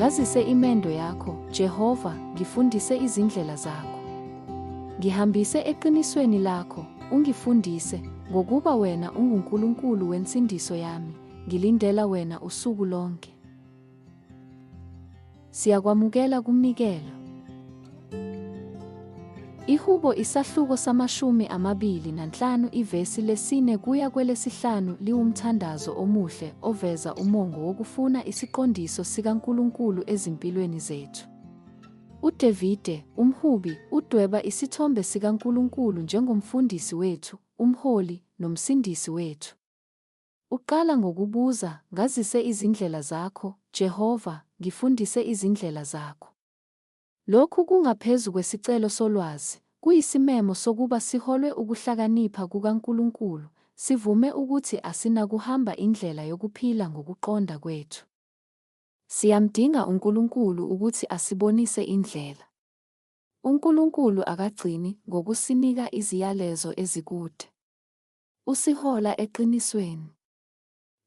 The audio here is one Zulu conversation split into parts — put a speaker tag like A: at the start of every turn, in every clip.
A: Ngazise imendo yakho, Jehova, ngifundise izindlela zakho. Ngihambise eqinisweni lakho, ungifundise, ngokuba wena unguNkulunkulu wensindiso yami, ngilindela wena usuku lonke. Siyakwamukela kumnikelo. Ihubo isahluko samashumi amabili nanhlanu ivesi lesine kuya kwelesihlanu liwumthandazo omuhle oveza umongo wokufuna isiqondiso sikaNkulunkulu ezimpilweni zethu. UDevide, umhubi, udweba isithombe sikaNkulunkulu njengomfundisi wethu, umholi, nomsindisi wethu. Uqala ngokubuza, Ngazise izindlela zakho, Jehova, ngifundise izindlela zakho. Lokhu kungaphezu kwesicelo solwazi, kuyisimemo sokuba siholwe ukuhlakanipha kukaNkulunkulu, sivume ukuthi asinakuhamba indlela yokuphila ngokuqonda kwethu. Siyamdinga uNkulunkulu ukuthi asibonise indlela. UNkulunkulu akagcini ngokusinika iziyalezo ezikude. Usihola eqinisweni.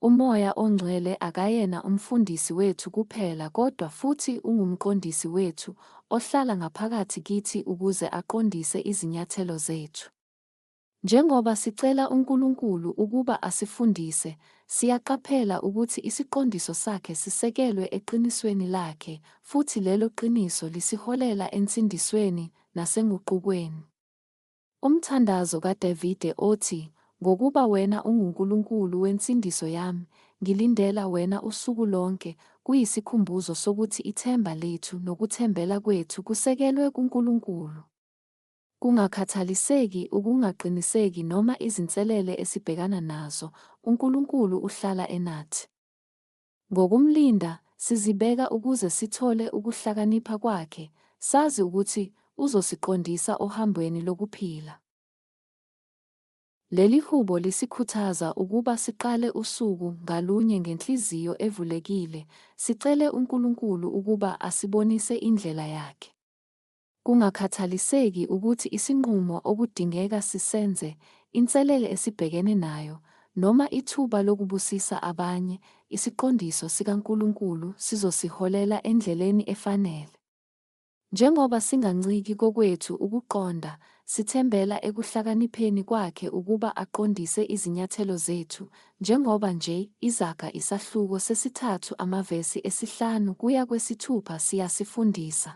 A: UMoya oNgcwele akayena umfundisi wethu kuphela kodwa futhi ungumqondisi wethu ohlala ngaphakathi kithi ukuze aqondise izinyathelo zethu. Njengoba sicela uNkulunkulu ukuba asifundise, siyaqaphela ukuthi isiqondiso sakhe sisekelwe eqinisweni lakhe futhi lelo qiniso lisiholela ensindisweni nasenguqukweni. Umthandazo kaDavide othi, Ngokuba wena unguNkulunkulu wensindiso yami, ngilindela wena usuku lonke, kuyisikhumbuzo sokuthi ithemba lethu nokuthembela kwethu kusekelwe kuNkulunkulu. Kungakhathaliseki ukungaqiniseki noma izinselele esibhekana nazo, uNkulunkulu uhlala enathi. Ngokumlinda, sizibeka ukuze sithole ukuhlakanipha kwakhe, sazi ukuthi uzosiqondisa ohambweni lokuphila. Leli hubo lisikhuthaza ukuba siqale usuku ngalunye ngenhliziyo evulekile, sicele uNkulunkulu ukuba asibonise indlela yakhe. Kungakhathaliseki ukuthi isinqumo okudingeka sisenze, inselele esibhekene nayo, noma ithuba lokubusisa abanye, isiqondiso sikaNkulunkulu sizosiholela endleleni efanele. Njengoba singanciki kokwethu ukuqonda, sithembela ekuhlakanipheni Kwakhe ukuba aqondise izinyathelo zethu, njengoba nje Izaga isahluko sesithathu amavesi esihlanu kuya kwesithupha siyasifundisa.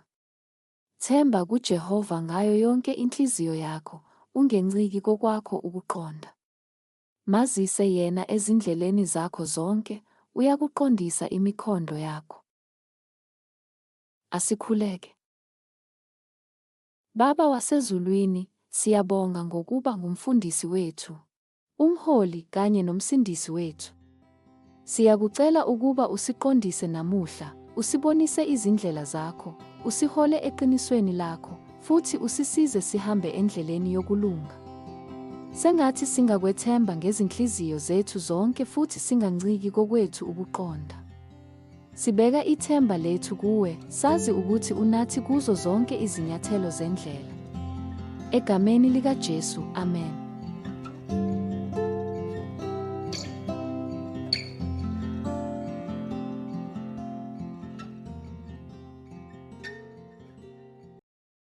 A: Themba kuJehova ngayo yonke inhliziyo yakho, ungenciki kokwakho ukuqonda. Mazise yena ezindleleni zakho zonke, uyakuqondisa imikhondo yakho. Asikhuleke. Baba wasezulwini, siyabonga ngokuba ngumfundisi wethu. uMholi kanye noMsindisi wethu. Siyakucela ukuba usiqondise namuhla, usibonise izindlela zakho, usihole eqinisweni lakho, futhi usisize sihambe endleleni yokulunga. Sengathi singakwethemba ngezinhliziyo zethu zonke futhi singanciki kokwethu ukuqonda. Sibeka ithemba lethu kuwe, sazi ukuthi unathi kuzo zonke izinyathelo zendlela. Egameni likaJesu, amen.